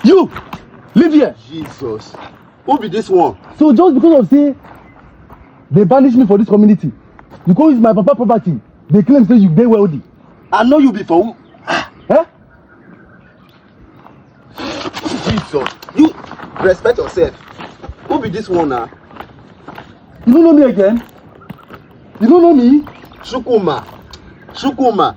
you live here Jesus. Who be this one? so just because of say they banish me for this community you go use my papa property dey claim say you dey wealthy I know you be for who? eh Jesus. You respect yourself. Who be this one now? you no know me again you no know me Shukuma. Shukuma.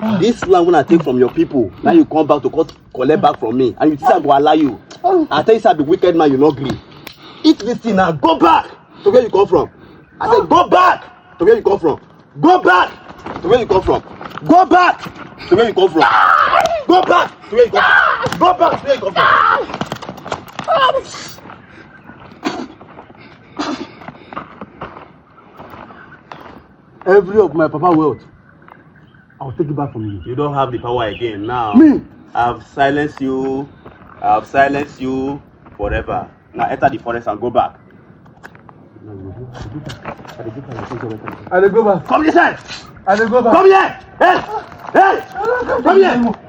Ah. This land when I take from your people, now you come back to cut, collect back from me, and you think I go allow you. Oh. I tell you, sir, be wicked man, you no gree. Eat this thing now, go back to where you come from. I said, ah. go back to where you come from. Go back to where you come from. Go back to where you come from. Go back to where you come from. Go back to where you come from. Every of my papa wealth, I will take it back from you. You don't have the power again now. Me? I've silenced you. I've silenced you forever. Now enter the forest and go back. I dey go back. Come this side. I dey go back. Come here. Hey. Hey. Come here.